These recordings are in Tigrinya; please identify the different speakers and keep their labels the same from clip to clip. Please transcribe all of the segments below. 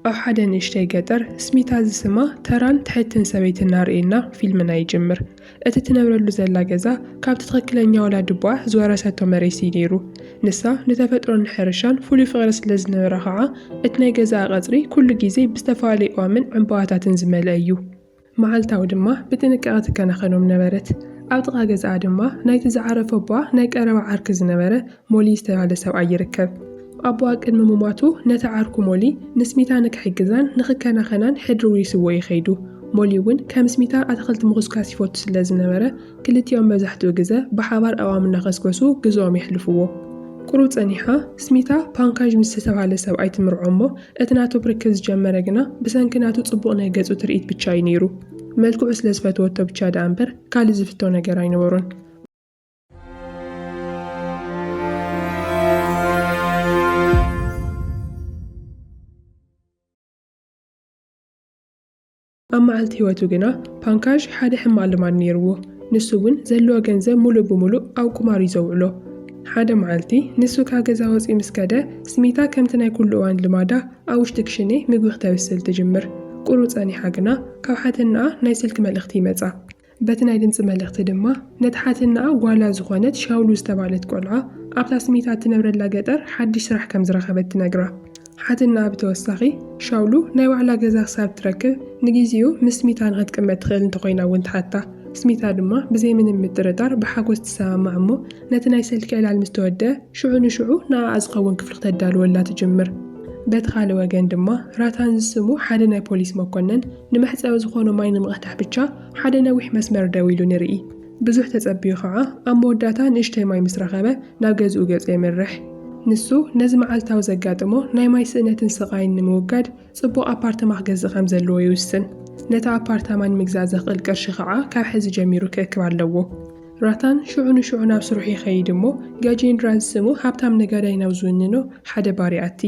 Speaker 1: ኣብ ሓደ ንእሽተይ ገጠር ስሚታ ዝስማ ተራን ትሕትን ሰበይቲ እናርእየና ፊልምና ይጅምር። እቲ ትነብረሉ ዘላ ገዛ ካብቲ ትኽክለኛ ወላድቦኣ ዝወረሰቶ መሬት እዩ ነይሩ። ንሳ ንተፈጥሮን ንሕርሻን ፍሉይ ፍቕሪ ስለ ዝነበራ ኸዓ እቲ ናይ ገዛኣ ቐፅሪ ኩሉ ግዜ ብዝተፈላለዩ እዋምን ዕምበባታትን ዝመልአ እዩ። መዓልታዊ ድማ ብጥንቃቐ ትከናኸኖም ነበረት። ኣብ ጥቓ ገዛኣ ድማ ናይቲ ዝዓረፈ ኣቦኣ ናይ ቀረባ ዓርኪ ዝነበረ ሞሊ ዝተባህለ ሰብኣይ ይርከብ። ኣቦኣ ቅድሚ ምሟቱ ነቲ ዓርኩ ሞሊ ንስሚታ ንክሕግዛን ንክከናኸናን ሕድሪ ውሪስዎ እዩ ከይዱ። ሞሊ እውን ከም ስሚታ ኣትኽልቲ ምኹስካስ ይፈቱ ስለ ዝነበረ ክልቲኦም መብዛሕትኡ ግዘ ብሓባር ኣእዋም እናኸስከሱ ግዘኦም የሕልፍዎ። ቁሩብ ፀኒሓ ስሚታ ፓንካዥ ምስ ዝተባህለ ሰብኣይ ትምርዖ እሞ እቲ ናቱ ብርክት ዝጀመረ ግና ብሰንኪ ናቱ ጽቡቕ ናይ ገጹ ትርኢት ብቻ እዩ ነይሩ። መልክዑ ስለ ዝፈተወቶ ብቻ ደኣ እምበር ካልእ ዝፍቶ ነገር ኣይነበሮን። ኣብ መዓልቲ ህይወቱ ግና ፓንካዥ ሓደ ሕማቕ ልማድ ነይርዎ። ንሱ እውን ዘለዎ ገንዘብ ምሉእ ብምሉእ ኣብ ቁማር እዩ ዘውዕሎ። ሓደ መዓልቲ ንሱ ካብ ገዛ ወጺኡ ምስ ከደ፣ ስሚታ ከምቲ ናይ ኩሉ እዋን ልማዳ ኣብ ውሽጢ ክሽኔ ምግቢ ክተብስል ትጅምር። ቁሩብ ጸኒሓ ግና ካብ ሓትነኣ ናይ ስልኪ መልእኽቲ ይመጻ። በቲ ናይ ድምጺ መልእኽቲ ድማ፣ ነቲ ሓትንኣ ጓላ ዝዀነት ሻውሉ ዝተባህለት ቈልዓ፣ ኣብታ ስሚታ እትነብረላ ገጠር ሓድሽ ስራሕ ከም ዝረኸበት ትነግራ። ሓትንኣ ብተወሳኺ፣ ሻውሉ ናይ ባዕላ ገዛ ክሳብ እትረክብ ንግዜኡ ምስ ስሚታ ንኽትቅመጥ ትኽእል እንተ ዀይና እውን ትሓታ። ስሚታ ድማ ብዘይ ምንም ምጥርጣር ብሓጐስ ትሰማማዕ እሞ፣ ነቲ ናይ ሰልኪ ዕላል ምስ ተወድኣ፣ ሽዑ ንሽዑ ንኣኣ ዝኸውን ክፍሊ ክተዳልወላ ትጅምር። በቲ ካልእ ወገን ድማ፣ ራታን ዝስሙ ሓደ ናይ ፖሊስ መኰነን፣ ንመሕጸቢ ዝኾኖ ማይ ንምቕዳሕ ብቻ ሓደ ነዊሕ መስመር ደው ኢሉ ንርኢ። ብዙሕ ተጸብዩ ኸዓ ኣብ መወዳእታ ንእሽተይ ማይ ምስ ረኸበ ናብ ገዝኡ ገጹ የምርሕ። ንሱ ነዚ መዓልታዊ ዘጋጥሞ ናይ ማይ ስእነትን ስቓይን ንምውጋድ ጽቡቕ ኣፓርተማ ክገዝእ ከም ዘለዎ ይውስን። ነቲ ኣፓርታማ ንምግዛእ ዘኽእል ቅርሺ ኸዓ ካብ ሕዚ ጀሚሩ ክእክብ ኣለዎ። ራታን ሽዑ ንሽዑ ናብ ስርሑ ይኸይድ እሞ ጋጄንድራ ዝስሙ ሃብታም ነጋዳይ ናብ ዝውንኖ ሓደ ባር ይኣቲ።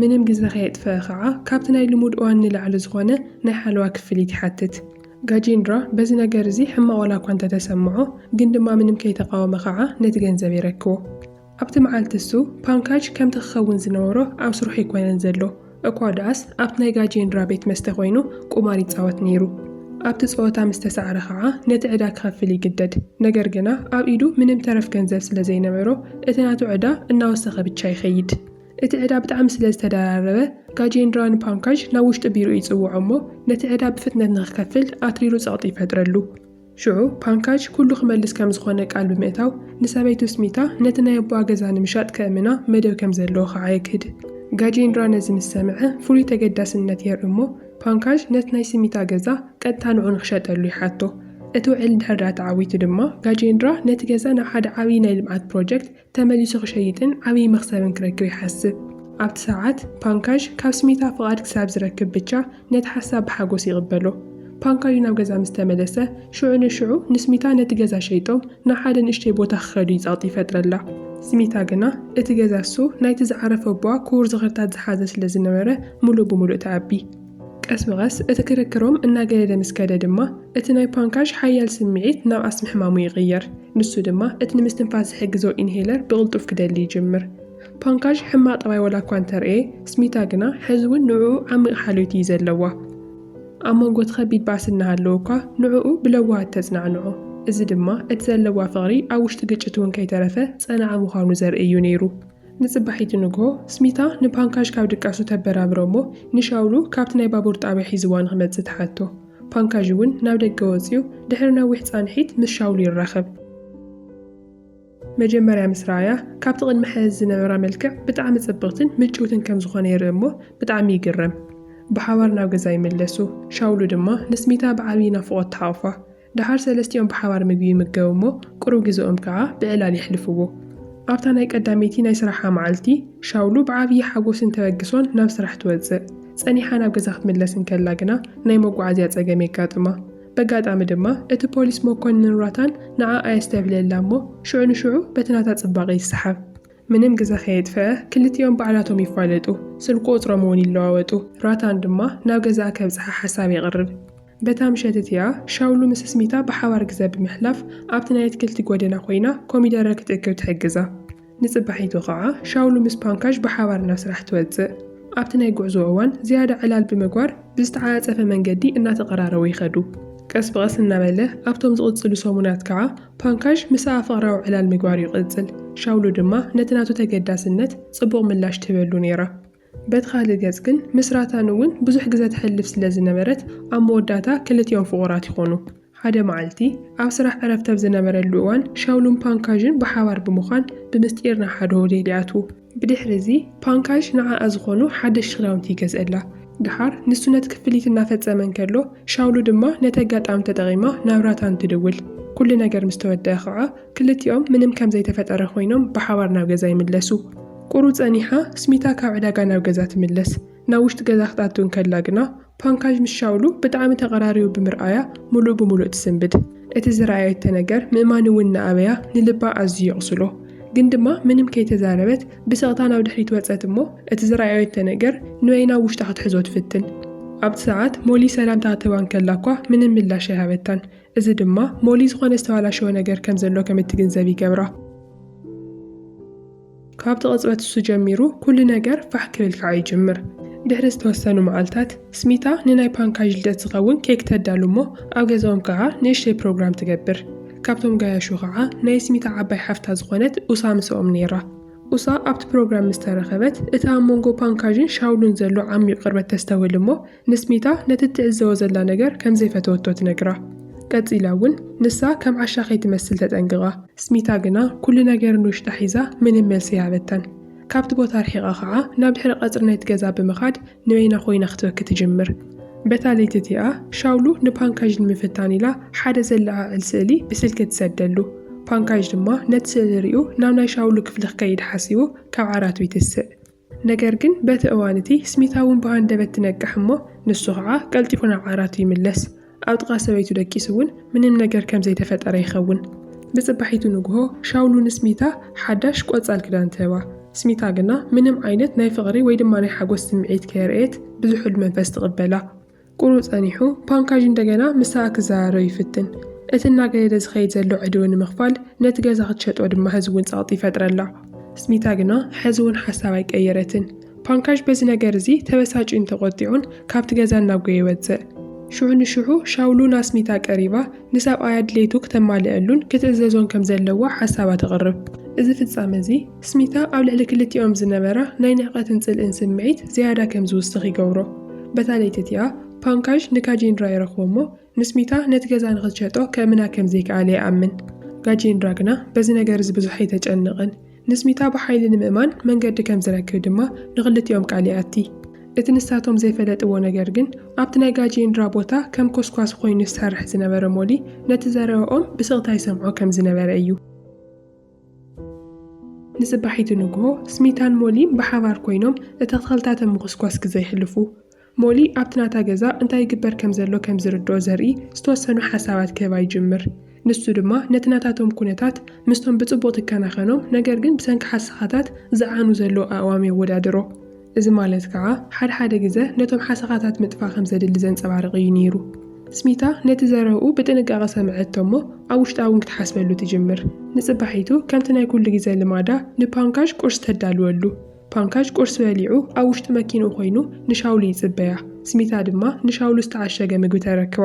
Speaker 1: ምንም ግዘ ከየጥፈኣ ከዓ ካብቲ ናይ ልሙድ እዋን ንላዕሊ ዝኾነ ናይ ሓለዋ ክፍሊት ይሓትት። ጋጂንድራ በዚ ነገር እዚ ሕማቕ ዋላ እኳ እንተተሰምዖ ግን ድማ ምንም ከይተቓወመ ከዓ ነቲ ገንዘብ የረክቦ። ኣብቲ መዓልቲ እሱ ፓንካጅ ከምቲ ክኸውን ዝነበሮ ኣብ ስርሑ ኣይኮነን ዘሎ። እኳ ደኣስ ኣብቲ ናይ ጋጄንድራ ቤት መስተ ኰይኑ ቁማር ይጻወት ነይሩ። ኣብቲ ጸወታ ምስ ተሳዕረ ኸኣ ነቲ ዕዳ ክኸፍል ይግደድ። ነገር ግና ኣብ ኢዱ ምንም ተረፍ ገንዘብ ስለ ዘይነበሮ እቲ ናቱ ዕዳ እናወሰኸ ብቻ ይኸይድ። እቲ ዕዳ ብጣዕሚ ስለ ዝተደራረበ ጋጄንድራ ንፓንካዥ ናብ ውሽጢ ቢሮኡ ይጽውዖ እሞ ነቲ ዕዳ ብፍጥነት ንኽከፍል ኣትሪሩ ጸቕጢ ይፈጥረሉ። ሽዑ ፓንካጅ ኩሉ ክመልስ ከም ዝኾነ ቃል ብምእታው፣ ንሰበይቱ ስሚታ ነቲ ናይ ኣቦኣ ገዛ ንምሻጥ ከእምና መደብ ከም ዘለዎ ኸኣ የግህድ። ጋጄንድራ ነዚ ምስ ሰምዐ ፍሉይ ተገዳስነት የርኢ እሞ፣ ፓንካጅ ነቲ ናይ ስሚታ ገዛ ቀጥታ ንዕኡ ንኽሸጠሉ ይሓቶ። እቲ ውዕል እንድሕር ደኣ ተዓዊቱ ድማ፣ ጋጄንድራ ነቲ ገዛ ናብ ሓደ ዓብዪ ናይ ልምዓት ፕሮጀክት፣ ተመሊሱ ክሸይጥን ዓብዪ መኽሰብን ክረክብ ይሓስብ። ኣብቲ ሰዓት፣ ፓንካዥ ካብ ስሚታ ፍቓድ ክሳብ ዝረክብ ብቻ ነቲ ሓሳብ ብሓጎስ ይቕበሎ። ፓንካዥ ናብ ገዛ ምስ ተመለሰ፣ ሽዑ ንሽዑ ንስሚታ ነቲ ገዛ ሸይጦም ናብ ሓደ ንእሽተይ ቦታ ክኸዱ ይጸቕጢ ይፈጥረላ። ስሚታ ግና እቲ ገዛ እሱ ናይቲ ዝዓረፈ ኣቦኣ ክቡር ዝኽርታት ዝሓዘ ስለ ዝነበረ ምሉእ ብምሉእ ትኣቢ። ቀስ ብቐስ እቲ ክርክሮም እናገደደ ምስ ከደ ድማ፣ እቲ ናይ ፓንካዥ ሓያል ስምዒት ናብ ኣስሚ ሕማሙ ይቕየር። ንሱ ድማ እቲ ንምስትንፋስ ዝሕግዞ ኢንሄለር ብቕልጡፍ ክደሊ ይጅምር። ፓንካዥ ሕማቕ ጠባይ ዋላ እኳ እንተርእየ፣ ስሚታ ግና ሕዚ እውን ንዕኡ ዓሚቕ ሓልዮት እዩ ዘለዋ። ኣብ መንጎ እቲ ከቢድ ባእሲ እናሃለወ እኳ ንዕኡ ብለዋሃት ተጽናዕንዖ። እዚ ድማ እቲ ዘለዋ ፍቕሪ ኣብ ውሽጢ ግጭት እውን ከይተረፈ ጸናዓ ምዃኑ ዘርኢ እዩ ነይሩ። ንጽባሒቱ ንግሆ፣ ስሚታ ንፓንካዥ ካብ ድቃሱ ተበራብሮ እሞ ንሻውሉ ካብቲ ናይ ባቡር ጣብያ ሒዝዋ ንኽመጽእ ትሓቶ። ፓንካዥ እውን ናብ ደገ ወጺኡ ድሕሪ ነዊሕ ጻንሒት ምስ ሻውል ይራኸብ። መጀመርያ ምስ ረኣያ ካብቲ ቅድሚ ሕዚ ዝነበራ መልክዕ ብጣዕሚ ጽብቕትን ምጭውትን ከም ዝኾነ ይርኢ እሞ ብጣዕሚ ይግረም። ብሓባር ናብ ገዛ ይምለሱ። ሻውሉ ድማ ንስሚታ ብዓብዪ ናፍቖት ትሓቑፋ። ደሓር ሰለስቲኦም ብሓባር ምግቢ ይምገቡ እሞ ቁሩብ ግዘኦም ከኣ ብዕላል የሕልፍዎ። ኣብታ ናይ ቀዳመይቲ ናይ ስራሓ መዓልቲ ሻውሉ ብዓብዪ ሓጎስን ተበግሶን ናብ ስራሕ ትወጽእ። ጸኒሓ ናብ ገዛ ክትምለስ እንከላ ግና ናይ መጓዓዝያ ጸገም የጋጥማ። በጋጣሚ ድማ እቲ ፖሊስ መኮንን ሯታን ንዓኣ የስተብህለላ እሞ ሽዑ ንሽዑ በቲ ናታ ጽባቐ ይሰሓብ። ምንም ግዘ ከየጥፈኣ ክልቲኦም ባዕላቶም ይፋለጡ፣ ስልኪ ቁጽሮም እውን ይለዋወጡ። ሯታን ድማ ናብ ገዛኣ ከብጽሓ ሓሳብ የቕርብ። በታ ምሸት እቲኣ ሻውሉ ምስ ስሚታ ብሓባር ግዘ ብምሕላፍ ኣብቲ ናይ ኣትክልቲ ጎደና ኮይና ኮሚደረ ክትእክብ ትሕግዛ። ንጽባሒቱ ኸኣ ሻውሉ ምስ ፓንካዥ ብሓባር ናብ ስራሕ ትወጽእ። ኣብቲ ናይ ጉዕዞ እዋን ዝያዳ ዕላል ብምግባር ብዝተዓጻጸፈ መንገዲ እናተቐራረቡ ይኸዱ። ቀስ ብቐስ እናበለ ኣብቶም ዝቕጽሉ ሰሙናት ከኣ ፓንካዥ ምስኣ ፍቕራዊ ዕላል ምግባር ይቕጽል፣ ሻውሉ ድማ ነቲ ናቱ ተገዳስነት ጽቡቕ ምላሽ ትህበሉ ነይራ። በቲ ካልእ ገጽ ግን ምስ ራታን እውን ብዙሕ ግዘ ተሕልፍ ስለ ዝነበረት ኣብ መወዳእታ ክልቲኦም ፍቑራት ይኾኑ። ሓደ መዓልቲ፣ ኣብ ስራሕ ዕረፍቲ ኣብ ዝነበረሉ እዋን ሻውሉን ፓንካዥን ብሓባር ብምዃን ብምስጢር ናብ ሓደ ሆቴል ይኣትዉ። ብድሕሪ እዚ ፓንካዥ ንዓኣ ዝኾኑ ሓደሽቲ ክዳውንቲ ይገዝእላ። ደሓር ንሱ ነቲ ክፍሊት እናፈጸመ እንከሎ ሻውሉ ድማ ነቲ ኣጋጣሚ ተጠቒማ ናብ ራታን ትድውል። ኩሉ ነገር ምስ ተወደኣ ኸኣ ክልቲኦም ምንም ከም ዘይተፈጠረ ኮይኖም ብሓባር ናብ ገዛ ይምለሱ። ቁሩ ጸኒሓ ስሚታ ካብ ዕዳጋ ናብ ገዛ ትምለስ። ናብ ውሽጢ ገዛ ክትኣቱ እንከላ ግና፣ ፓንካዥ ምስ ሻውሉ ብጣዕሚ ተቐራሪቡ ብምርኣያ ምሉእ ብምሉእ ትስንብድ። እቲ ዝረኣየቶ ነገር ምእማን'ውን እናኣበያ ንልባ ኣዝዩ የቑስሎ። ግን ድማ ምንም ከይተዛረበት ብስቕታ ናብ ድሕሪት ወጸት እሞ እቲ ዝረኣየቶ ነገር ኑኤ ናብ ውሽጣ ክትሕዞ ትፍትን። ኣብቲ ሰዓት ሞሊ ሰላምታ ክትህባ እንከላ'ኳ ምንም ምላሽ ኣይሃበታን። እዚ ድማ ሞሊ ዝኾነ ዝተባላሸወ ነገር ከም ዘሎ ከም እትግንዘብ ይገብራ። ካብቲ ቅጽበት እሱ ጀሚሩ ኩሉ ነገር ፋሕ ክብል ከኣ ይጅምር። ድሕሪ ዝተወሰኑ መዓልታት፣ ስሚታ ንናይ ፓንካዥ ልደት ዝኸውን ኬክ ተዳሉ እሞ ኣብ ገዛኦም ከኣ ንእሽተይ ፕሮግራም ትገብር። ካብቶም ጋያሹ ከኣ ናይ ስሚታ ዓባይ ሓፍታ ዝኾነት ኡሳ ምሰኦም ነይራ። ኡሳ ኣብቲ ፕሮግራም ምስ ተረኸበት፣ እቲ ኣብ መንጎ ፓንካዥን ሻውሉን ዘሎ ዓሚዩቕ ቅርበት ተስተውህል እሞ ንስሚታ ነቲ እትዕዘቦ ዘላ ነገር ከም ዘይፈተወቶ ትነግራ። ቀጺላ እውን ንሳ ከም ዓሻ ከይትመስል ተጠንቅቓ። ስሚታ ግና ኵሉ ነገር ንውሽጣ ሒዛ ምንም መልሲ ኣይሃበታን። ካብቲ ቦታ ርሒቓ ኸኣ ናብ ድሕሪ ቀጽሪ ናይቲ ገዛ ብምኻድ ንበይና ኰይና ክትበኪ ትጅምር። በታ ለይቲ እቲኣ ሻውሉ ንፓንካዥ ንምፍታን ኢላ ሓደ ዘለዓዕል ስእሊ ብስልኪ ትሰደሉ። ፓንካዥ ድማ ነቲ ስእሊ ርእዩ ናብ ናይ ሻውሉ ክፍሊ ክከይድ ሓሲቡ ካብ ዓራቱ ይትስእ። ነገር ግን በቲ እዋን እቲ ስሚታ እውን ብሃንደበት ትነቅሕ እሞ ንሱ ኸዓ ቀልጢፉ ናብ ዓራቱ ይምለስ። ኣብ ጥቓ ሰበይቱ ደቂሱ እውን ምንም ነገር ከም ዘይተፈጠረ ይኸውን። ብጽባሒቱ ንግሆ ሻውሉ ንስሚታ ሓዳሽ ቆጻል ክዳን ትህባ። ስሚታ ግና ምንም ዓይነት ናይ ፍቕሪ ወይ ድማ ናይ ሓጎስ ስምዒት ከየርእየት ብዝሑል መንፈስ ትቕበላ። ቍሩ ጸኒሑ፣ ፓንካዥ እንደገና ምሳኣ ክዘራረብ ይፍትን። እቲ እናገደደ ዝኸይድ ዘሎ ዕድው ንምኽፋል፣ ነቲ ገዛ ክትሸጦ ድማ ሕዚ'ውን ጸቕጢ ይፈጥረላ። ስሚታ ግና ሕዚ'ውን ሓሳብ ኣይቀየረትን። ፓንካዥ በዚ ነገር እዚ ተበሳጭዩን ተቖጢዑን ካብቲ ገዛ እናጐየ ወጽእ። ሽዑ ንሽዑ ሻውሉ ናስሚታ ቀሪባ ንሰብኣያ ድሌቱ ክተማልኣሉን ክትእዘዞን ከም ዘለዋ ሓሳባ ተቕርብ። እዚ ፍጻመ እዚ፣ ስሚታ ኣብ ልዕሊ ክልቲኦም ዝነበራ ናይ ንዕቀትን ጽልእን ስምዒት ዝያዳ ከም ዝውስኽ ይገብሮ። በታ ለይቲ እቲኣ፣ ፓንካዥ ንጋጄንድራ ይረኽቦ እሞ ንስሚታ ነቲ ገዛ ንኽትሸጦ ከእምና ከም ዘይከኣለ ይኣምን። ጋጄንድራ ግና በዚ ነገር እዚ ብዙሕ ኣይተጨንቕን። ንስሚታ ብሓይሊ ንምእማን መንገዲ ከም ዝረክብ ድማ ንኽልቲኦም ቃል ይኣቲ። እቲ ንሳቶም ዘይፈለጥዎ ነገር ግን ኣብቲ ናይ ጋጄንድራ ቦታ ከም ኮስኳሲ ኮይኑ ዝሰርሕ ዝነበረ ሞሊ ነቲ ዘረባኦም ብስቕታ ይሰምዖ ከም ዝነበረ እዩ። ንጽባሒቱ ንግሆ፣ ስሚታን ሞሊን ብሓባር ኰይኖም እቲ ኣትክልታተ ምዅስኳስ ግዘ የሕልፉ። ሞሊ ኣብቲ ናታ ገዛ እንታይ ይግበር ከም ዘሎ ከም ዝርድኦ ዘርኢ ዝተወሰኑ ሓሳባት ክህባ ይጅምር። ንሱ ድማ ነቲ ናታቶም ኵነታት ምስቶም ብጽቡቕ ትከናኸኖም ነገር ግን ብሰንኪ ሓሰኻታት ዝዓኑ ዘለዉ ኣእዋም የወዳድሮ። እዚ ማለት ከኣ ሓድሓደ ግዘ ነቶም ሓሰኻታት ምጥፋእ ከም ዘድሊ ዘንጸባርቕ እዩ ነይሩ። ስሚታ ነቲ ዘረብኡ ብጥንቃቐ ሰምዐቶ እሞ ኣብ ውሽጣ እውን ክትሓስበሉ ትጅምር። ንጽባሒቱ ከምቲ ናይ ኩሉ ግዘ ልማዳ ንፓንካዥ ቁርሲ ተዳልወሉ። ፓንካዥ ቁርሲ በሊዑ ኣብ ውሽጢ መኪንኡ ኮይኑ ንሻውሉ ይጽበያ። ስሚታ ድማ ንሻውሉ ዝተዓሸገ ምግቢ ተረክባ።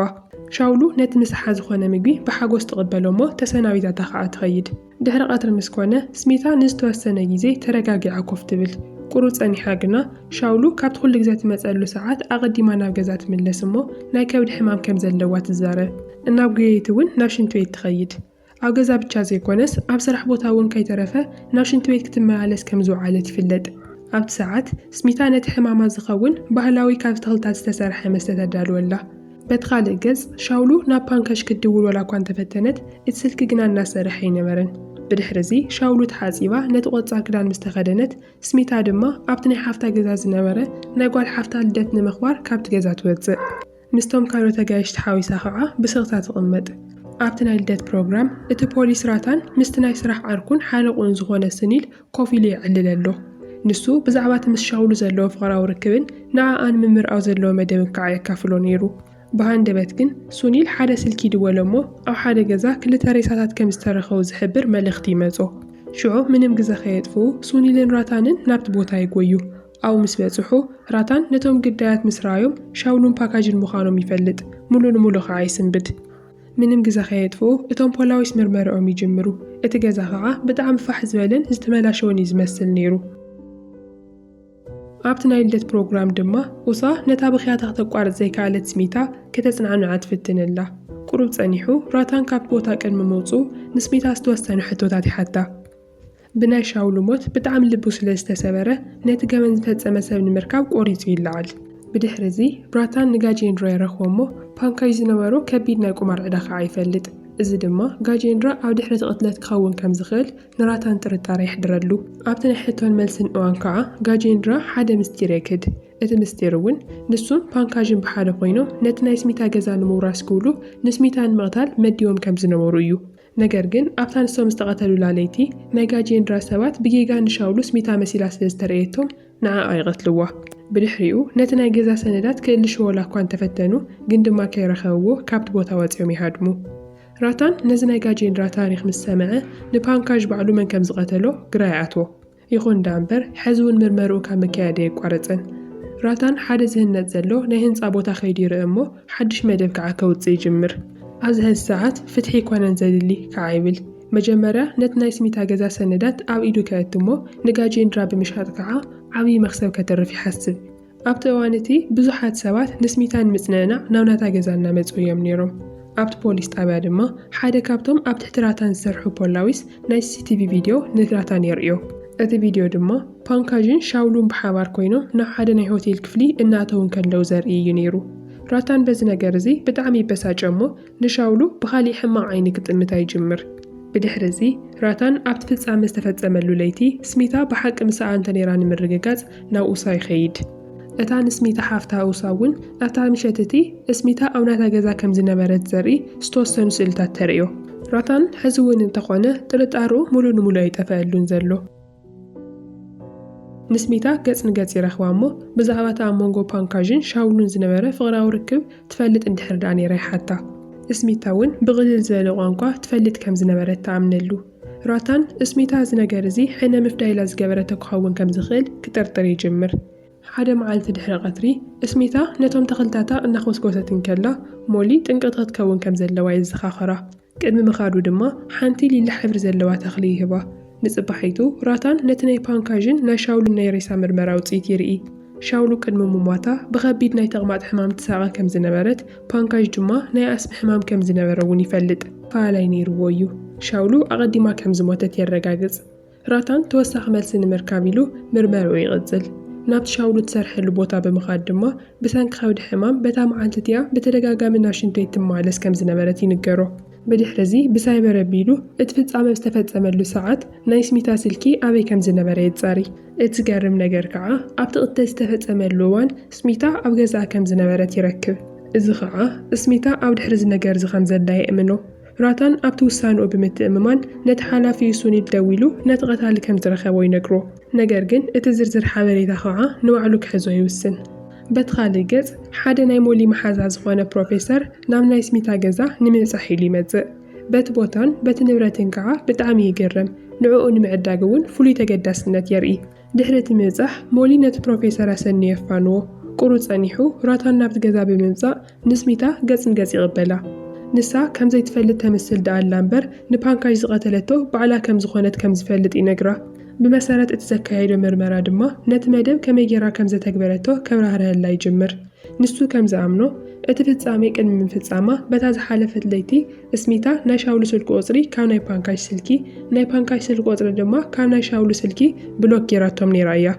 Speaker 1: ሻውሉ ነቲ ምሳሓ ዝኾነ ምግቢ ብሓጎስ ትቕበሎ እሞ ተሰናቢታታ ከኣ ትኸይድ። ድሕሪ ቀትሪ ምስ ኰነ፣ ስሚታ ንዝተወሰነ ግዜ ተረጋጊዓ ኮፍ ትብል። ቍሩብ ጸኒሓ ግና፣ ሻውሉ ካብቲ ኵሉ ግዜ ትመጸሉ ሰዓት ኣቐዲማ ናብ ገዛ ትምለስ እሞ ናይ ከብዲ ሕማም ከም ዘለዋ ትዛረብ። እናጕየየት እውን ናብ ሽንቲ ቤት ትኸይድ። ኣብ ገዛ ብቻ ዘይኰነስ ኣብ ስራሕ ቦታ እውን ከይተረፈ ናብ ሽንቲ ቤት ክትመላለስ ከም ዝወዓለት ይፍለጥ። ኣብቲ ሰዓት፣ ስሚታ ነቲ ሕማማ ዝኸውን ባህላዊ ካብ ተኽልታት ዝተሰርሐ መስተ ተዳልወላ። በቲ ካልእ ገጽ፣ ሻውሉ ናብ ፓንከሽ ክትድውል ዋላኳ እንተፈተነት፣ እቲ ስልኪ ግና እናሰርሐ ኣይነበረን። ብድሕርዚ፣ ሻውሉ ተሓጺባ ነቲ ቆጻል ክዳን ምስ ተኸደነት፣ ስሚታ ድማ ኣብቲ ናይ ሓፍታ ገዛ ዝነበረ ናይ ጓል ሓፍታ ልደት ንምኽባር ካብቲ ገዛ ትወጽእ። ምስቶም ካልኦት ኣጋይሽ ተሓዊሳ ከኣ ብስቕታ ትቕመጥ። ኣብቲ ናይ ልደት ፕሮግራም፣ እቲ ፖሊስ ራታን ምስቲ ናይ ስራሕ ዓርኩን ሓለቕኡን ዝኾነ ስኒል ኮፍ ኢሉ የዕልል ኣሎ። ንሱ ብዛዕባ እቲ ምስ ሻውሉ ዘለዎ ፍቕራዊ ርክብን ንዓኣ ንምምርዓው ዘለዎ መደብን ከኣ የካፍሎ ነይሩ። ብሃንደበት ግን ሱኒል ሓደ ስልኪ ይድወሎ እሞ ኣብ ሓደ ገዛ ክልተ ሬሳታት ከም ዝተረኸቡ ዝሕብር መልእኽቲ ይመጾ። ሽዑ ምንም ግዘ ከየጥፍኡ ሱኒልን ራታንን ናብቲ ቦታ ይጎዩ። ኣብኡ ምስ በጽሑ ራታን ነቶም ግዳያት ምስ ረኣዮም ሻውሉን ፓካጅን ምዃኖም ይፈልጥ፣ ምሉእ ንምሉእ ከኣ ይስንብድ። ምንም ግዘ ከየጥፍኡ እቶም ፖላዊስ ምርመርኦም ይጅምሩ። እቲ ገዛ ከዓ ብጣዕሚ ፋሕ ዝበለን ዝተመላሸወን እዩ ዝመስል ነይሩ። ኣብቲ ናይ ልደት ፕሮግራም ድማ ኡሳ ነታ ብኽያታ ክተቋርጽ ዘይከኣለት ስሚታ ከተጽናዕንዓ ትፍትን ኣላ። ቁሩብ ጸኒሑ ራታን ካብቲ ቦታ ቅድሚ ምውጽኡ ንስሚታ ዝተወሰኑ ሕቶታት ይሓታ። ብናይ ሻውል ሞት ብጣዕሚ ልቡ ስለ ዝተሰበረ፣ ነቲ ገበን ዝፈጸመ ሰብ ንምርካብ ቆሪጹ ይለዓል። ብድሕሪዚ፣ ብራታን ንጋጄንድራ ይረኽቦ'ሞ፣ ፓንካጅ ዝነበሮ ከቢድ ናይ ቁማር ዕዳ ከኣ ይፈልጥ። እዚ ድማ፣ ጋጄንድራ ኣብ ድሕሪ'ቲ ቅትለት ክኸውን ከም ዝኽእል ንራታን ጥርጣረ የሕድረሉ። ኣብቲ ናይ ሕቶን መልስን እዋን ከኣ፣ ጋጄንድራ ሓደ ምስጢር የግህድ። እቲ ምስጢር'ውን፣ ንሱን ፓንካጅን ብሓደ ኮይኖም ነቲ ናይ ስሚታ ገዛ ንምውራስ ክብሉ ንስሚታ ንምቕታል መዲቦም ከም ዝነበሩ እዩ። ነገር ግን ኣብታ ንሶም ዝተቐተሉላ ለይቲ፣ ናይ ጋጄንድራ ሰባት ብጌጋ ንሻውሉ ስሚታ መሲላ ስለ ዝተርእየቶም ንዓኣ ይቐትልዋ። ብድሕሪኡ ነቲ ናይ ገዛ ሰነዳት ክእልሽዎላ እኳ እንተፈተኑ ግን ድማ ከይረኸብዎ ካብቲ ቦታ ወጺኦም ይሃድሙ። ራታን ነዚ ናይ ጋጄንድራ ታሪኽ ምስ ሰምዐ ንፓንካዥ ባዕሉ መን ከም ዝቐተሎ ግራ ይኣትዎ። ይኹን ደኣምበር ሐዚ እውን ምርመርኡ ካብ ምክያድ ኣየቋረፀን። ራታን ሓደ ዝህነፅ ዘሎ ናይ ህንፃ ቦታ ከይዱ ይርእ እሞ ሓዱሽ መደብ ከዓ ከውፅእ ይጅምር። ኣብዚ ሐዚ ሰዓት ፍትሒ ኣይኮነን ዘድሊ ከዓ ይብል። መጀመርያ ነቲ ናይ ስሚታ ገዛ ሰነዳት ኣብ ኢዱ ከየቱ እሞ ንጋጄንድራ ብምሻጥ ከዓ ዓብዪ መኽሰብ ከተርፍ ይሓስብ። ኣብቲ እዋን እቲ ብዙሓት ሰባት ንስሚታ ንምጽንዕናዕ ናብ ናታ ገዛ እናመጹ እዮም ነይሮም። ኣብቲ ፖሊስ ጣብያ ድማ ሓደ ካብቶም ኣብ ትሕቲ ራታን ዝሰርሑ ፖላዊስ ናይ ሲሲቲቪ ቪድዮ ንራታን የርእዮ። እቲ ቪድዮ ድማ ፓንካዥን ሻውሉን ብሓባር ኮይኖም ናብ ሓደ ናይ ሆቴል ክፍሊ እናእተዉ እንከለዉ ዘርኢ እዩ ነይሩ። ራታን በዚ ነገር እዚ ብጣዕሚ ይበሳጨ እሞ ንሻውሉ ብኻሊእ ሕማቕ ዓይኒ ክጥምታ ይጅምር። ብድሕሪ እዚ፣ ራታን ኣብቲ ፍጻመ ዝተፈጸመሉ ለይቲ ስሚታ ብሓቂ ምሳኣ እንተ ነይራ ንምርግጋጽ ናብ ኡሳ ይኸይድ። እታ ንስሚታ ሓፍታ ኡሳ እውን ኣብታ ምሸት እቲ ስሚታ ኣብ ናታ ገዛ ከም ዝነበረት ዘርኢ ዝተወሰኑ ስእልታት ተርእዮ። ራታን ሕዚ እውን እንተ ኾነ ጥርጣረኡ ምሉእ ንምሉእ ኣይጠፈኣሉን ዘሎ። ንስሚታ ገጽ ንገጽ ይረኽባ እሞ ብዛዕባ እቲ ኣብ መንጎ ፓንካዥን ሻውሉን ዝነበረ ፍቕራዊ ርክብ ትፈልጥ እንድሕር ደኣ ነይራ ይሓታ። እስሚታ እውን ብቕልል ዝበለ ቋንቋ ትፈልጥ ከም ዝነበረት ትኣምነሉ። ራታን፣ እስሚታ እዚ ነገር እዚ ሕነ ምፍዳይ ኢላ ዝገበረቶ ክኸውን ከም ዝኽእል ክጥርጥር ይጅምር። ሓደ መዓልቲ ድሕሪ ቐትሪ፣ እስሚታ ነቶም ተኽልታታ እናዀስኰሰት እንከላ፣ ሞሊ ጥንቅቕ ክትከውን ከም ዘለዋ የዘኻኽራ። ቅድሚ ምኻዱ ድማ ሓንቲ ሊላ ሕብሪ ዘለዋ ተኽሊ ይህባ። ንጽባሒቱ ራታን ነቲ ናይ ፓንካዥን ናይ ሻውልን ናይ ሬሳ ምርመራ ውጽኢት ይርኢ። ሻውሉ ቅድሚ ምሟታ ብኸቢድ ናይ ተቕማጥ ሕማም ትሳቐ ከም ዝነበረት፣ ፓንካዥ ድማ ናይ ኣስሚ ሕማም ከም ዝነበረ'ውን ይፈልጥ። ፋላይ ነይርዎ እዩ። ሻውሉ ኣቐዲማ ከም ዝሞተት የረጋግጽ። ራታን ተወሳኺ መልሲ ንምርካብ ኢሉ ምርመርኡ ይቕጽል። ናብቲ ሻውሉ እትሰርሐሉ ቦታ ብምኻድ ድማ ብሰንኪ ከብዲ ሕማም በታ መዓልቲ እቲኣ ብተደጋጋሚ ናብ ሽንት ቤት ትመላለስ ከም ዝነበረት ይንገሮ። ብድሕርዚ ብሳይበር ኣቢሉ እቲ ፍጻመ ኣብ ዝተፈጸመሉ ሰዓት ናይ ስሚታ ስልኪ ኣበይ ከም ዝነበረ የጻሪ። እቲ ዝገርም ነገር ከኣ ኣብቲ ቅትለት ዝተፈጸመሉ እዋን ስሚታ ኣብ ገዛኣ ከም ዝነበረት ይረክብ። እዚ ከኣ ስሚታ ኣብ ድሕሪ እዚ ነገርዚ ከም ዘላ የእምኖ። ራታን ኣብቲ ውሳነኡ ብምትእምማን ነቲ ሓላፊኡ ሱኒድ ደዊሉ ነቲ ቀታሊ ከም ዝረኸቦ ይነግሮ፣ ነገር ግን እቲ ዝርዝር ሓበሬታ ኸኣ ንባዕሉ ክሕዞ ይውስን። በቲ ኻልእ ገጽ፣ ሓደ ናይ ሞሊ መሓዛ ዝዀነ ፕሮፌሰር ናብ ናይ ስሚታ ገዛ ንምብጻሕ ኢሉ ይመጽእ። በቲ ቦታን በቲ ንብረትን ከኣ ብጣዕሚ ይግረም፣ ንዕኡ ንምዕዳግ እውን ፍሉይ ተገዳስነት የርኢ። ድሕሪ እቲ ምብጻሕ፣ ሞሊ ነቲ ፕሮፌሰር ኣሰንዩ የፋንዎ። ቍሩ ጸኒሑ፣ ራታን ናብቲ ገዛ ብምምጻእ ምስ ሚታ ገጽ ንገጽ ይቕበላ። ንሳ ከም ዘይትፈልጥ ተምስል ደኣ ኣላ እምበር፣ ንፓንካዥ ዝቐተለቶ ባዕላ ከም ዝዀነት ከም ዝፈልጥ ይነግራ። ብመሰረት እቲ ዘካየዶ ምርመራ ድማ ነቲ መደብ ከመይ ገይራ ከም ዘተግበረቶ ከብራህርሀላ ይጅምር። ንሱ ከም ዝኣምኖ፣ እቲ ፍጻሜ ቅድሚ ምፍጻማ በታ ዝሓለፈት ለይቲ እስሚታ ናይ ሻውሉ ስልኪ ቁጽሪ ካብ ናይ ፓንካሽ ስልኪ ናይ ፓንካሽ ስልኪ ቁጽሪ ድማ ካብ ናይ ሻውሉ ስልኪ ብሎክ ጌራቶም ኔራ እያ።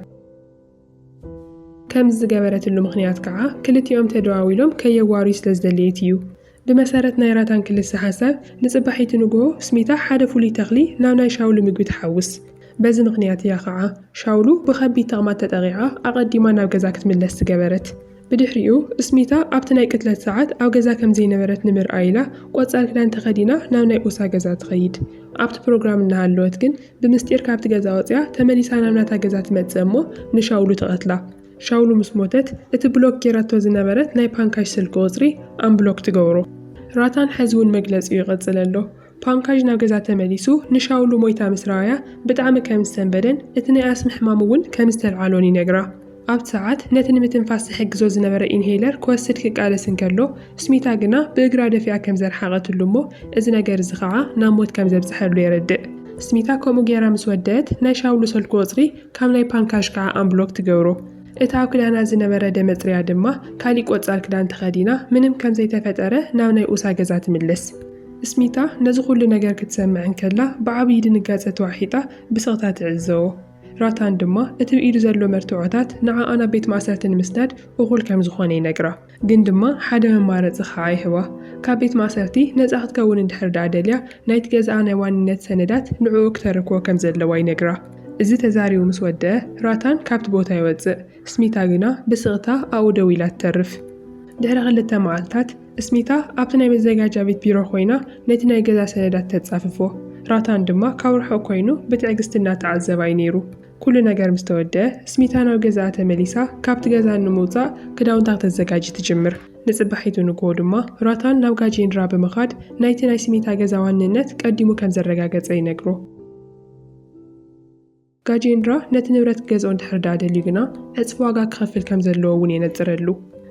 Speaker 1: ከምዚ ዝገበረትሉ ምኽንያት ከኣ ክልቲኦም ተደዋዊሎም ከየዋርዩ ስለ ዝደለየት እዩ። ብመሰረት ናይ ራታን ክልሰ ሓሳብ ንጽባሒቱ ንግሆ እስሚታ ሓደ ፍሉይ ተኽሊ ናብ ናይ ሻውሉ ምግቢ ትሓውስ። በዚ ምኽንያት እያ ከኣ ሻውሉ ብኸቢድ ተቕማጥ ተጠቒዓ ኣቐዲማ ናብ ገዛ ክትምለስ ዝገበረት። ብድሕሪኡ እስሚታ ኣብቲ ናይ ቅትለት ሰዓት ኣብ ገዛ ከም ዘይነበረት ንምርኣይ ኢላ ቆፃል ክዳን ተኸዲና ናብ ናይ ኡሳ ገዛ ትኸይድ። ኣብቲ ፕሮግራም እናሃለወት ግን ብምስጢር ካብቲ ገዛ ወፂኣ ተመሊሳ ናብ ናታ ገዛ ትመፅእ እሞ ንሻውሉ ትቐትላ። ሻውሉ ምስ ሞተት እቲ ብሎክ ገይራቶ ዝነበረት ናይ ፓንካሽ ስልኪ ቁፅሪ ኣምብሎክ ትገብሮ። ራታን ሐዚ እውን መግለፂኡ ይቕፅል ኣሎ። ፓንካዥ ናብ ገዛ ተመሊሱ ንሻውሉ ሞይታ ምስ ረኣያ ብጣዕሚ ከም ዝሰንበደን እቲ ናይ ኣስሚ ሕማም እውን ከም ዝተልዓሎን ይነግራ። ኣብቲ ሰዓት ነቲ ንምትንፋስ ዝሕግዞ ዝነበረ ኢንሄለር ክወስድ ክቃለስ እንከሎ ስሚታ ግና ብእግራ ደፊኣ ከም ዘርሓቐትሉ እሞ እዚ ነገር እዚ ከዓ ናብ ሞት ከም ዘብፀሐሉ የረድእ። ስሚታ ከምኡ ገይራ ምስ ወደእት ናይ ሻውሉ ሰልኩ ቁፅሪ ካብ ናይ ፓንካዥ ከዓ ኣምብሎክ ትገብሮ። እታ ክዳና ዝነበረ ደመጽርያ ድማ ካሊእ ቆጻል ክዳን ተኸዲና ምንም ከም ዘይተፈጠረ ናብ ናይ ኡሳ ገዛ ትምለስ። ስሚታ ነዚ ኩሉ ነገር ክትሰምዕ እንከላ ብዓብዪ ድንጋጸ ተዋሒጣ ብስቕታ ትዕዘቦ። ራታን ድማ እቲ ብኢዱ ዘሎ መርትዖታት ንዓኣ ናብ ቤት ማእሰርቲ ንምስዳድ እኹል ከም ዝኾነ ይነግራ። ግን ድማ ሓደ መማረፂ ክዓ ይህባ። ካብ ቤት ማእሰርቲ ነፃ ክትከውን እንድሕር ድኣ ደልያ ናይቲ ገዝኣ ናይ ዋንነት ሰነዳት ንዕኡ ክተረክቦ ከም ዘለዋ ይነግራ። እዚ ተዛሪቡ ምስ ወደኣ ራታን ካብቲ ቦታ ይወፅእ። ስሚታ ግና ብስቕታ ኣብኡ ደው ኢላ ትተርፍ። ድሕሪ ክልተ መዓልታት ስሚታ ኣብቲ ናይ መዘጋጃ ቤት ቢሮ ኮይና ነቲ ናይ ገዛ ሰነዳት ተፃፍፎ። ራታን ድማ ካብ ርሑቕ ኮይኑ ብትዕግስቲ እናተዓዘባ እዩ ነይሩ። ኩሉ ነገር ምስ ተወድኣ፣ ስሚታ ናብ ገዛኣ ተመሊሳ ካብቲ ገዛ ንምውጻእ ክዳውንታ ክተዘጋጂ ትጅምር። ንጽባሒቱ ንግሆ ድማ ራታን ናብ ጋጄንድራ ብምኻድ ናይቲ ናይ ስሚታ ገዛ ዋንነት ቀዲሙ ከም ዘረጋገጸ ይነግሮ። ጋጄንድራ ነቲ ንብረት ክገዝኦ እንድሕር ደኣ ደልዩ ግና ዕጽፊ ዋጋ ክኸፍል ከም ዘለዎ እውን የነጽረሉ።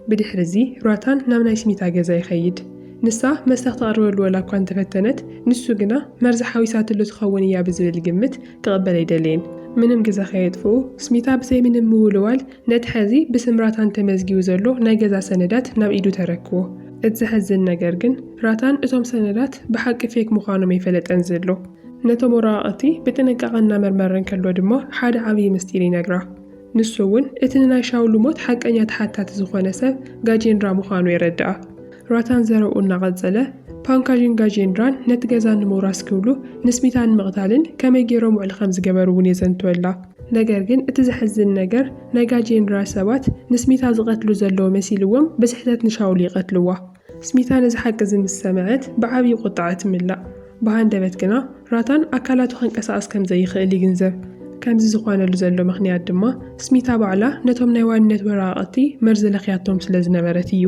Speaker 1: ብድሕሪዚ ራታን ናብ ናይ ስሚታ ገዛ ይኸይድ። ንሳ መስተ ክተቕርበሉ ወላ እኳ እንተፈተነት፣ ንሱ ግና መርዚ ሓዊሳትሉ ትኸውን እያ ብዝብል ግምት ክቕበል ኣይደለየን። ምንም ግዘ ከየጥፍኡ ስሚታ ብዘይ ምንም ምውልዋል ነቲ ሐዚ ብስም ራታን ተመዝጊቡ ዘሎ ናይ ገዛ ሰነዳት ናብ ኢዱ ተረክቦ። እቲ ዘሐዝን ነገር ግን ራታን እቶም ሰነዳት ብሓቂ ፌክ ምዃኖም ኣይፈለጠን ዘሎ። ነቶም ወረቓቕቲ ብጥንቃቐ እናመርመረ እንከሎ ድማ ሓደ ዓብዪ ምስጢር ይነግራ። ንሱ እውን እቲ ንናይ ሻውሉ ሞት ሓቀኛ ተሓታቲ ዝኾነ ሰብ ጋጄንድራ ምዃኑ የረድኣ። ራታን ዘረብኡ እናቐጸለ፣ ፓንካዥን ጋጄንድራን ነቲ ገዛ ንምውራስ ክብሉ ንስሚታ ንምቕታልን ከመይ ገይሮም ውዕል ከም ዝገበሩ እውን የዘንትወላ። ነገር ግን እቲ ዘሕዝን ነገር ናይ ጋጄንድራ ሰባት ንስሚታ ዝቐትሉ ዘለዉ መሲልዎም ብስሕተት ንሻውሉ ይቐትልዋ። ስሚታ ነዚ ሓቂ እዚ ምስ ሰምዐት ብዓብዪ ቍጥዓ ትምላእ። ብሃንደበት ግና ራታን ኣካላቱ ኸንቀሳቕስ ከም ዘይኽእል ይግንዘብ። ከምዚ ዝዀነሉ ዘሎ ምኽንያት ድማ ስሚታ ባዕላ ነቶም ናይ ዋንነት ወረቓቕቲ መርዚ ለኽያቶም ስለ ዝነበረት እዩ።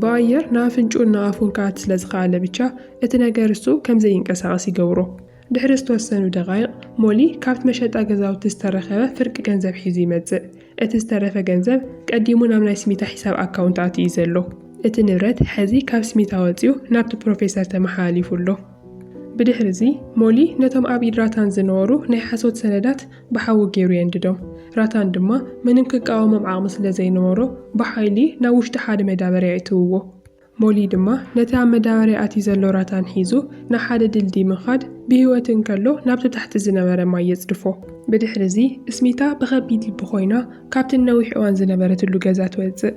Speaker 1: ብኣየር ንኣፍንጭኡን ንኣፉን ክኣቲ ስለ ዝኸኣለ ብቻ እቲ ነገር እሱ ከም ዘይንቀሳቐስ ይገብሮ። ድሕሪ ዝተወሰኑ ደቓይቕ፣ ሞሊ ካብቲ መሸጣ ገዛውቲ ዝተረኸበ ፍርቂ ገንዘብ ሒዙ ይመጽእ። እቲ ዝተረፈ ገንዘብ ቀዲሙ ናብ ናይ ስሚታ ሒሳብ ኣካውንት ኣትዩ እዩ ዘሎ። እቲ ንብረት ሕዚ ካብ ስሚታ ወጺኡ ናብቲ ፕሮፌሰር ተመሓላሊፉ ኣሎ። ብድሕሪዚ፣ ሞሊ ነቶም ኣብ ኢድ ራታን ዝነበሩ ናይ ሓሶት ሰነዳት ብሓዊ ገይሩ የንድዶም። ራታን ድማ ምንም ክቃወሞም ዓቕሚ ስለ ዘይነበሮ ብሓይሊ ናብ ውሽጢ ሓደ መዳበርያ የእትውዎ። ሞሊ ድማ ነቲ ኣብ መዳበርያ ኣትዩ ዘሎ ራታን ሒዙ ንሓደ ድልድይ ምኻድ ብህይወት እንከሎ ናብቲ ታሕቲ ዝነበረ ማይ የጽድፎ። ብድሕርዚ ስሚታ ብኸቢድ ልቢ ኮይና ካብቲ ንነዊሕ እዋን ዝነበረትሉ ገዛ ትወጽእ።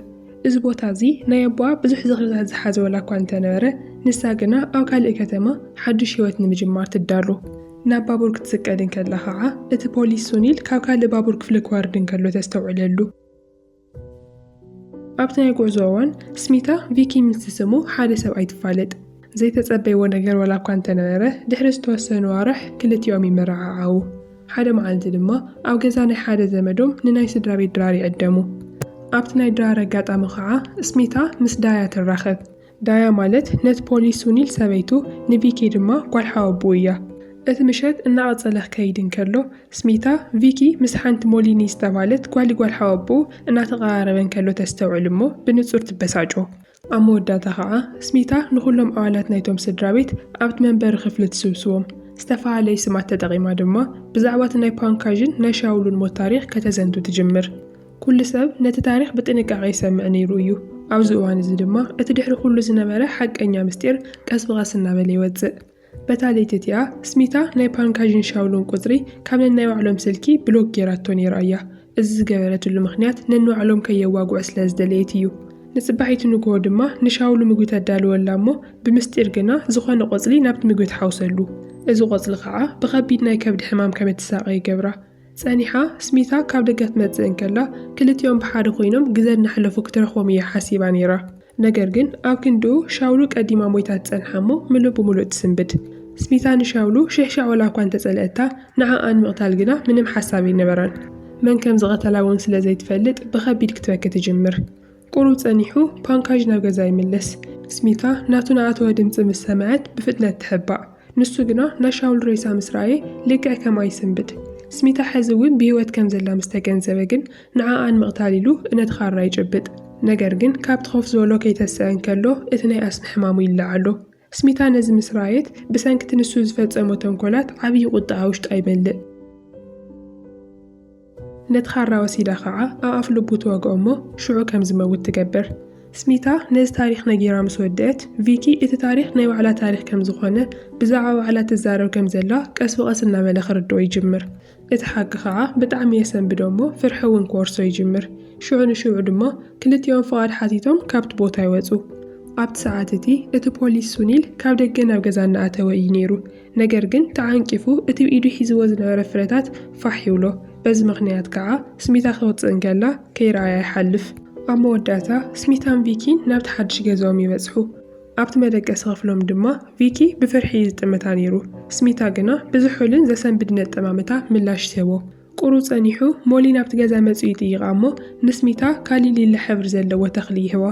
Speaker 1: እዚ ቦታ እዚ ናይ ኣቦኣ ብዙሕ ዝኽርታት ዝሓዘ ዋላ እኳ እንተነበረ ንሳ ግና ኣብ ካልእ ከተማ ሓዱሽ ህይወት ንምጅማር ትዳሎ። ናብ ባቡር ክትስቀል እንከላ ከኣ እቲ ፖሊስ ሱኒል ካብ ካልእ ባቡር ክፍሊ ክወርድ እንከሎ ተስተውዕለሉ። ኣብቲ ናይ ጉዕዞ እዋን ስሚታ ቪኪ ምስ ዝስሙ ሓደ ሰብኣይ ትፋለጥ። ዘይተጸበይዎ ነገር ዋላ እኳ እንተነበረ ድሕሪ ዝተወሰኑ ኣዋርሕ ክልቲኦም ይመረዓዓዉ። ሓደ መዓልቲ ድማ ኣብ ገዛ ናይ ሓደ ዘመዶም ንናይ ስድራ ቤት ድራር ይዕደሙ። ኣብቲ ናይ ድራር ኣጋጣሚ ኸዓ ስሚታ ምስ ዳያ ትራኸብ። ዳያ ማለት ነት ፖሊስ ሱኒል ሰበይቱ፣ ንቪኪ ድማ ጓል ሓወብኡ እያ። እቲ ምሸት እናቐጸለ ክከይድ እንከሎ፣ ስሚታ፣ ቪኪ ምስ ሓንቲ ሞሊኒ ዝተባህለት ጓሊ ጓል ሓወብኡ እናተቐራረበ እንከሎ ተስተውዕል እሞ ብንጹር ትበሳጮ። ኣብ መወዳእታ ከኣ ስሚታ ንኹሎም ኣባላት ናይቶም ስድራቤት ኣብቲ መንበሪ ክፍሊ ትስብስቦም። ዝተፋላለዩ ስማት ተጠቒማ ድማ ብዛዕባ እቲ ናይ ፓንካዥን ናይ ሻውሉን ሞት ታሪኽ ከተዘንቱ ትጅምር። ኩሉ ሰብ ነቲ ታሪኽ ብጥንቃቐ ይሰምዕ ነይሩ እዩ። ኣብዚ እዋን እዚ ድማ እቲ ድሕሪ ኩሉ ዝነበረ ሓቀኛ ምስጢር ቀስ ብቐስ እናበለ ይወጽእ። በታ ለይቲ እቲኣ ስሚታ ናይ ፓንካዥን ሻውሎን ቁጽሪ ካብ ነናይ ባዕሎም ስልኪ ብሎክ ጌራቶ ነይራ እያ። እዚ ዝገበረትሉ ምኽንያት ነንባዕሎም ከየዋግዑ ስለ ዝደለየት እዩ። ንጽባሒቱ ንግሆ ድማ ንሻውሉ ምግቢ ተዳልወላ እሞ ብምስጢር ግና ዝኾነ ቆጽሊ ናብቲ ምግቢ ትሓውሰሉ። እዚ ቆጽሊ ከኣ ብኸቢድ ናይ ከብዲ ሕማም ከም እትሳቐ ይገብራ። ጸኒሓ ስሚታ ካብ ደገ ክትመጽእ እንከላ ክልቲኦም ብሓደ ኮይኖም ግዘ እናሕለፉ ክትረኽቦም እያ ሓሲባ ነይራ። ነገር ግን ኣብ ክንድኡ ሻውሉ ቀዲማ ሞይታ ትጸንሓ እሞ ምሉእ ብምሉእ ትስንብድ። ስሚታ ንሻውሉ ሽሕሻዕ ወላ እኳ እንተጸልኣታ ንዓኣ ንምቕታል ግና ምንም ሓሳብ ኣይነበራን። መን ከም ዝቐተላ እውን ስለ ዘይትፈልጥ ብኸቢድ ክትበኪ ትጅምር። ቁሩብ ጸኒሑ ፓንካዥ ናብ ገዛ ይምለስ። ስሚታ ናቱ ንኣተወ ድምጺ ምስ ሰምዐት ብፍጥነት ትሕባእ። ንሱ ግና ናይ ሻውል ሬሳ ምስ ረኣየ ልክዕ ከምኣ ይስንብድ። ስሚታ ሕዚ እውን ብህይወት ከም ዘላ ምስ ተገንዘበ ግን ንዓኣ ንምቕታል ኢሉ እነቲ ኻራ ይጭብጥ። ነገር ግን ካብቲ ኮፍ ዝበሎ ከይተሰኣ እንከሎ እቲ ናይ ኣስሚ ሕማሙ ይለዓሎ። ስሚታ ነዚ ምስ ረኣየት፣ ብሰንኪ'ቲ ንሱ ዝፈጸሞ ተንኮላት ዓብዪ ቁጥዐኣ ውሽጣ ይመልእ። ነቲ ኻራ ወሲዳ ኸዓ ኣብ ኣፍ ልቡ ትወግኦ እሞ ሽዑ ከም ዝመውት ትገብር። ስሚታ ነዚ ታሪኽ ነጊራ ምስ ወደእት፣ ቪኪ እቲ ታሪኽ ናይ ባዕላ ታሪኽ ከም ዝኾነ፣ ብዛዕባ ባዕላ ትዛረብ ከም ዘላ ቀስ ብቐስ እናበለ ክርድኦ ይጅምር። እቲ ሓቂ ከኣ ብጣዕሚ የሰንብዶ እሞ ፍርሒ እውን ክወርሶ ይጅምር። ሽዑ ንሽዑ ድማ ክልቲኦም ፍቓድ ሓቲቶም ካብቲ ቦታ ይወጹ። ኣብቲ ሰዓት እቲ፣ እቲ ፖሊስ ሱኒል ካብ ደገ ናብ ገዛ እናኣተወ እዩ ነይሩ። ነገር ግን ተዓንቂፉ እቲ ብ ኢዱ ሒዝዎ ዝነበረ ፍረታት ፋሕ ይብሎ። በዚ ምኽንያት ከኣ ስሚታ ክወጽእ እንከላ ከይረኣያ ይሓልፍ። ኣብ መወዳእታ ስሚታን ቪኪን ናብቲ ሓድሽ ገዝኦም ይበጽሑ። ኣብቲ መደቀሲ ክፍሎም ድማ ቪኪ ብፍርሒ ዝጥምታ ነይሩ። ስሚታ ግና ብዝሑልን ዘሰንብድን ኣጠማምታ ምላሽ ትህቦ። ቁሩብ ጸኒሑ ሞሊ ናብቲ ገዛ መጺኡ ይጥይቓ እሞ ንስሚታ ካልእ ሊላ ሕብሪ ዘለዎ ተኽሊ ይህባ።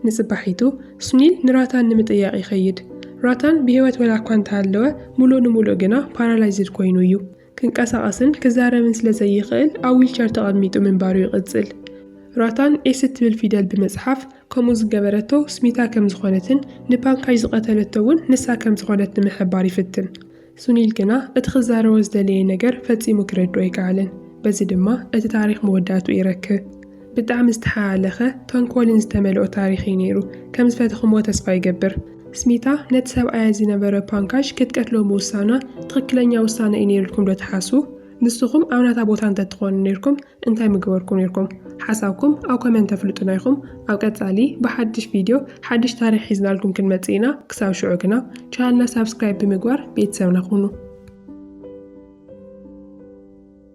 Speaker 1: ንጽባሒቱ ሱኒል ንራታን ንምጥያቕ ይኸይድ። ራታን ብህይወት ወላ'ኳ እንተሃለወ፣ ምሉእ ንምሉእ ግና ፓራላይዝድ ኮይኑ እዩ። ክንቀሳቐስን ክዛረብን ስለ ዘይኽእል ኣብ ዊልቸር ተቐሚጡ ምንባሩ ይቕጽል። ራታን ኤስ እትብል ፊደል ብምጽሓፍ ከምኡ ዝገበረቶ ስሚታ ከም ዝኾነትን ንፓንካጅ ዝቐተለቶ እውን ንሳ ከም ዝኾነት ንምሕባር ይፍትን። ሱኒል ግና እቲ ክዛረቦ ዝደለየ ነገር ፈጺሙ ክረድኦ ኣይከኣለን። በዚ ድማ እቲ ታሪኽ መወዳእትኡ ይረክብ። ብጣዕሚ ዝተሓላለኸ ተንኮልን ዝተመልኦ ታሪኽ እዩ ነይሩ። ከም ዝፈተኹምዎ ተስፋ ይገብር። ስሚታ ነቲ ሰብኣያ ዝነበረ ፓንካሽ ክትቀትሎ ምውሳና ትኽክለኛ ውሳነ እዩ ነይሩ ኢልኩም ዶ ትሓስቡ? ንስኹም ኣብ ናታ ቦታ እንተትኾኑ ነይርኩም እንታይ ምገበርኩም ነይርኩም? ሓሳብኩም ኣብ ኮመንት ተፍልጡና ኢኹም። ኣብ ቀጻሊ ብሓድሽ ቪድዮ ሓድሽ ታሪኽ ሒዝናልኩም ክንመጽእ ኢና። ክሳብ ሽዑ ግና ቻናልና ሳብስክራይብ ብምግባር ቤተሰብና ኩኑ።